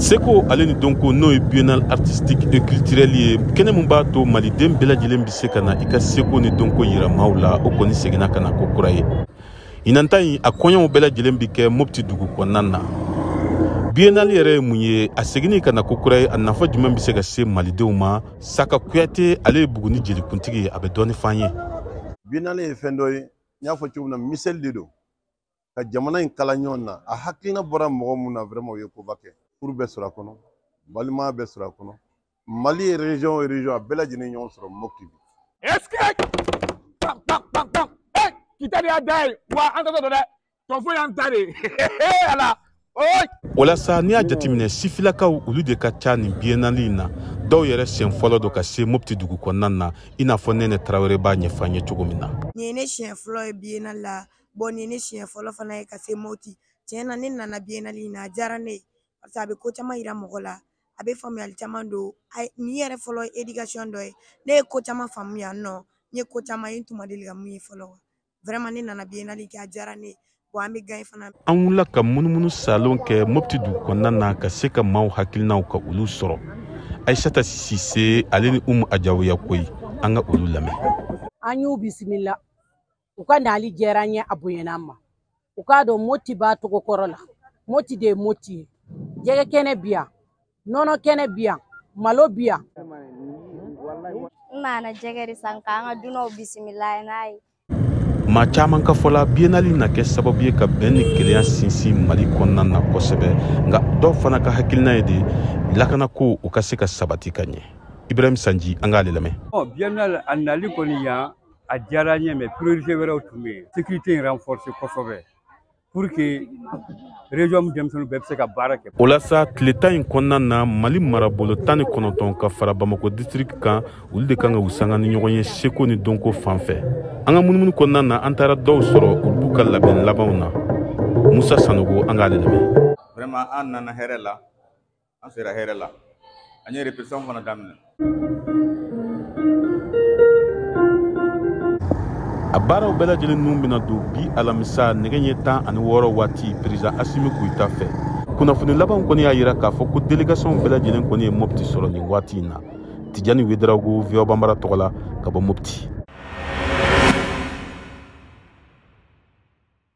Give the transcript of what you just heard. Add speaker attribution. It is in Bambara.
Speaker 1: seko ale ni dɔnko n'o ye biennale artistique et culturelle ye kɛnɛ min b'a to maliden bɛɛ lajɛlen bɛ se ka na i ka seko ni dɔnko yira maaw la o kɔni seginna ka na ko kura ye ɲinan ta in a kɔɲɔw bɛɛ lajɛlen bɛ kɛ mopti dugu kɔnɔna na biennale yɛrɛ ye mun ye a seginni ka na ko kura ye a nafa jumɛn bɛ se ka se malidenw ma saka kuyate ale ye buguni jelikuntigi ye a bɛ dɔɔni f'an ye biennale
Speaker 2: ye fɛn dɔ ye n y'a fɔ cogo min na misɛli de don ka jamana in kala ɲɔgɔn na a hakilina bɔra mɔgɔ mun na vraiment o ye koba kɛ furu bɛ sɔrɔ a kɔnɔ balimaya bɛ sɔrɔ a kɔnɔ mali ye région o région a bɛɛ lajɛlen ɲɔgɔn sɔrɔ mopti bi
Speaker 3: est ce que kitari y'a da ye wa an ta don dɛ tɔfo y'an ta
Speaker 1: de ala o la sa n'i y'a jateminɛ sifilakaw olu de ka ca nin biennale in na dɔw yɛrɛ siɲɛ fɔlɔ don ka se mopti dugu kɔnɔna na i n'a fɔ nɛnɛ tarawele b'a ɲɛfɔ an ye cogo min na nin ye ne siɲɛ fɔlɔ
Speaker 4: ye biennale la bon nin ye ne siɲɛ fɔlɔ fana ye ka se mopti tiɲɛ na ne nana biennale in na a diyara ne ye parce que a bɛ ko caman yira mɔgɔ la a bɛ faamuyali caman don nin yɛrɛ fɔlɔ ye éducation dɔ ye ne ye ko caman faamu yan nɔ n ye ko caman ye n tun ma deli ka mun ye fɔlɔ vraiment ne nana biennale kɛ a diyara ne ye wa an bɛ gagner fana an wulila ka
Speaker 1: munumunu saalo kɛ mopti dugu kɔnɔna na ka se ka maaw hakilinaw ka olu sɔrɔ ayisata sise ale ni umu ajawiyakoyi an ka olu lamɛn an y'u
Speaker 5: bisimila u ka nali diyara an ye a bonyana an ma u k'a dɔn moti b'a tɔgɔ kɔrɔ la moti de ye moti ye jɛgɛ kɛnɛ bi yan nɔnɔ kɛnɛ bi yan malo bi yan
Speaker 6: n nana jɛgɛ de san k'an ka dunanw bisimila n'a ye maa
Speaker 1: caman ka fɔla biennale na kɛ sababu ye ka bɛn ni kelenya sinsin mali kɔnɔna na kosɛbɛ nka dɔw fana ka hakilina ye de lakanako u ka se ka sabati ka ɲɛ ibrahim sanji an k'ale lamɛn biennale a nali
Speaker 7: kɔni yan a diyara n ye mais priorité wɛrɛw tun bɛ yen sécurité in renforcer kosɛbɛ pour que région in denmisɛnninw bɛɛ bɛ se ka baara kɛ. o la sa tile tan in
Speaker 1: kɔnɔna na mali marabolo tan ni kɔnɔntɔn ka fara bamakɔ disitiriki kan olu de kan ka u sanga ni ɲɔgɔn ye seko ni dɔnko fan fɛ an ka munumunu kɔnɔna na an taara dɔw sɔrɔ olu b'u ka labɛn labanw na musa sanogo an k'ale lamɛn. vraiment an nana
Speaker 8: hɛrɛ la. an sera hɛrɛ la an ye répétition fana daminɛ
Speaker 1: a baaraw bɛɛ lajɛlen nun bɛna don bi alamisa nɛgɛ ɲɛ tan ani wɔɔrɔ waati peresidan asimi goyita fɛ kunnafoni labanw kɔni y'a yira k'a fɔ ko delegasiɔnw bɛɛ lajɛlen kɔni ye mɔpti sɔrɔ nin waati in na tijani wedarawogo voa banbara tɔgɔ la ka bɔ mɔpti